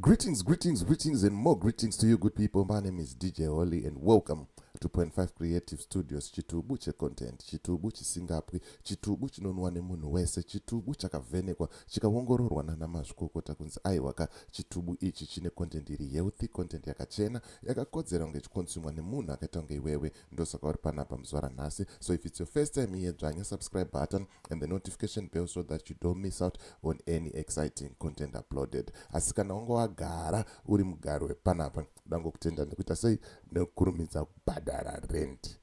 Greetings, greetings, greetings, and more greetings to you, good people. My name is DJ Holly, and welcome to Point Five Creative Studios. Chitubu che content, chitubu chisingapwi, chitubu chinonwa nemunhu wese, chitubu chakavhenekwa, chikaongororwa nana mazvikokota kunzi aiwaka chitubu ichi chine content iri healthy, content yakachena, yakakodzera kunge ichikonsumwa nemunhu akaita kunge iwewe. ndosaka uri panapa muzuva ranhasi so if it's your first time here dzvanya subscribe button and the notification bell so that you don't miss out on any exciting content uploaded asi kana wanga wagara uri mugari wepanapa dangokutenda ndikuita sei nekukurumidza kubhadhara rent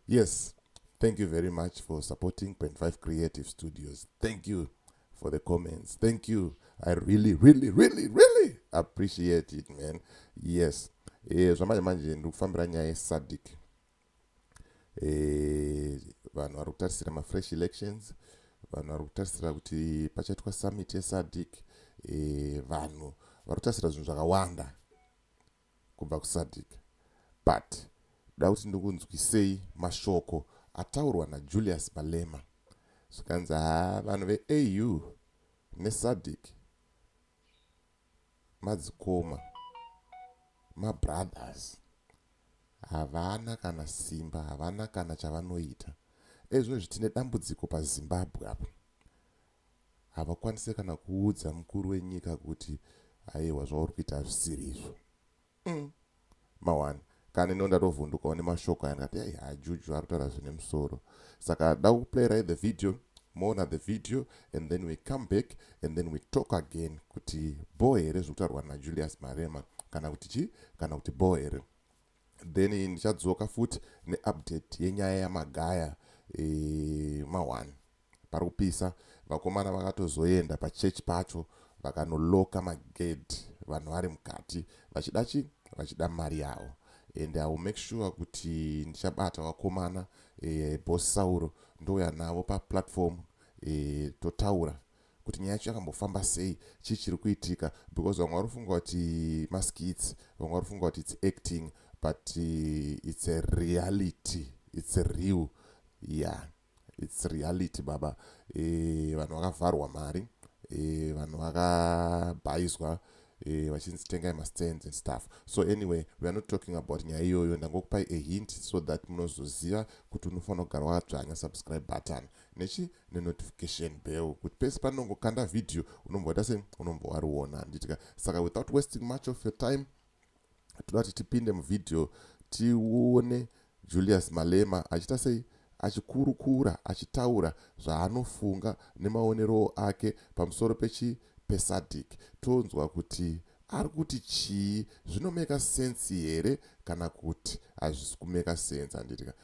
yes thank you very much for supporting 25 creative studios thank you for the comments thank you i really really really really appreciate it man yes e, zvamanje manje ndiri kufambira nyaya yesadic e, eh, vanhu vari kutarisira mafresh elections vanhu vari kutarisira kuti pachaitwa summit yesadic e, vanhu vari kutarisira zvinhu zvakawanda kubva kuSadc but ndoda kuti ndikunzwisei mashoko ataurwa naJulius Malema zvikanzi haa vanhu veAU neSadc madzikoma mabrothers havana kana simba havana kana chavanoita ezvinozvi tine dambudziko pazimbabwe apo havakwanise kana kuudza mukuru wenyika kuti aiwa zvauri kuita hazvisiri izvo mm. mawani kana ino ndatovhundukawo nemashoko aya ndikati ai hajuju ari kutaura zvine musoro saka da kuplayirai the video moona the video and then we come back and then we talk again kuti bho here zviri kutaurwa najulius marema kana kuti chii kana kuti bho here then ndichadzoka futi neupdate yenyaya yamagaya e, mahwani pari kupisa vakomana vakatozoenda pachechi pacho vakanoloka magedhi vanhu vari mukati vachida chi vachida mari yavo and iwill make sure kuti ndichabata vakomana e, eh, bos sauro ndouya navo paplatform e, totaura kuti nyaya yacho yakambofamba sei chii chiri kuitika because vamwe vari kufunga kuti maskits vamwe vari kufunga kuti its acting but uh, its a reality its real yeah its reality baba e, vanhu vakavharwa mari e, vanhu vakabhaizwa e, vachinzi tengai mastands and stuff so anyway we are not talking about nyaya iyoyo ndangokupai a hint so that munozoziva kuti unofanira kugara wakadzvanya subscribe button nechi nenotification bell kuti pese panongokanda video unomboita se unombowariona handitika saka without wasting much of your time toda kuti tipinde muvideo tione julius malema achiita sei achikurukura achitaura zvaanofunga nemaonerowo ake pamusoro pechi pesadic tonzwa kuti ari kuti chii zvinomeka sensi here kana kuti hazvisi kumeka sensi handitika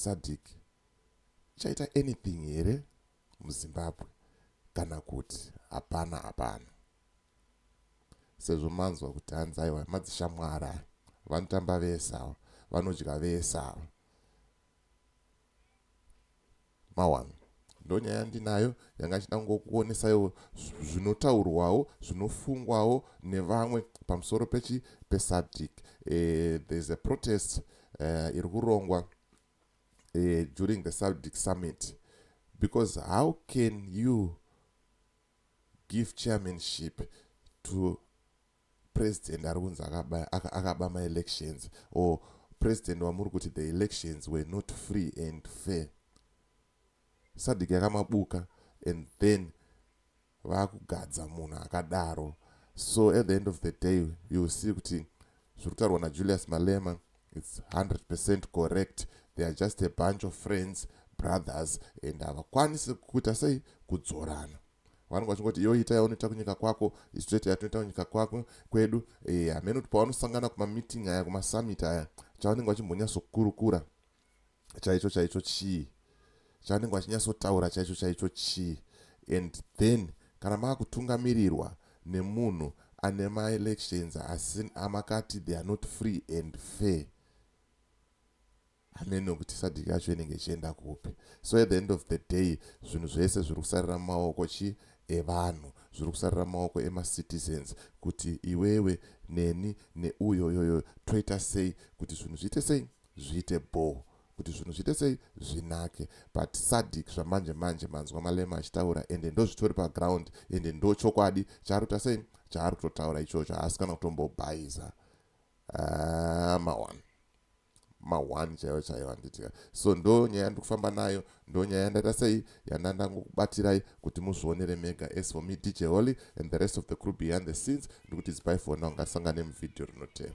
Sadc ichaita anything here muZimbabwe kana kuti hapana hapana. Sezvo manzwa kuti hanzi aiwa madzishamwari aya vanotamba vese ava vanodya vese ava. Mawana. Ndonyaya yandinayo yanga ndichida kungokuonesaiwo zvinotaurwawo zvinofungwawo nevamwe pamusoro pechi pesadc uh, eh, there's a protest uh, iri kurongwa uh, during the sadc summit because how can you give chairmanship to president ari kunzi akaba, akaba maelections or president wamuri kuti the elections were not free and fair sadiki yakamabuka and then vakugadza munhu akadaro so at the end of the day you see kuti zviri kutaurwa najulius malema its 100 percent correct they are just a bunch of friends brothers and havakwanisi kuita sei kudzorana vanenge vachingoti iwe ita yaunoita kunyika kwako isu toita yatinoita kunyika kwako kwedu eh, hameno kuti pavanosangana kumameeting aya kumasamit aya chavanenge vachimbonyatsokurukura chaicho chaicho chii chavanenge vachinyatsotaura chaicho chaicho chii and then kana maakutungamirirwa nemunhu ane maelections asi amakati they are not free and fair hameno kuti sadc yacho inenge ichienda kupi so at the end of the day zvinhu zvese zviri kusarira mumaoko chii evanhu zviri kusarira maoko emacitizens kuti iwewe neni neuyo yoyo toita sei kuti zvinhu zviite sei zviite bho kuti zvinhu zviite sei zvinake but sadic zvamanje manje manzwa malema achitaura ende ndozvitori paground ende ndochokwadi chaari kuta sei chaari kutotaura ichocho haasi kana kutombobhaiza ah, mawan ma one chaiwo chaiwo handitika so ndo nyaya ndikufamba nayo ndo nyaya yandaita sei yandandangokubatirayi kuti muzvionere mega as for me dj holy and the rest of the crew behind the scenes ndikuti zipai for now ngasangane muvhidhiyo rinotevera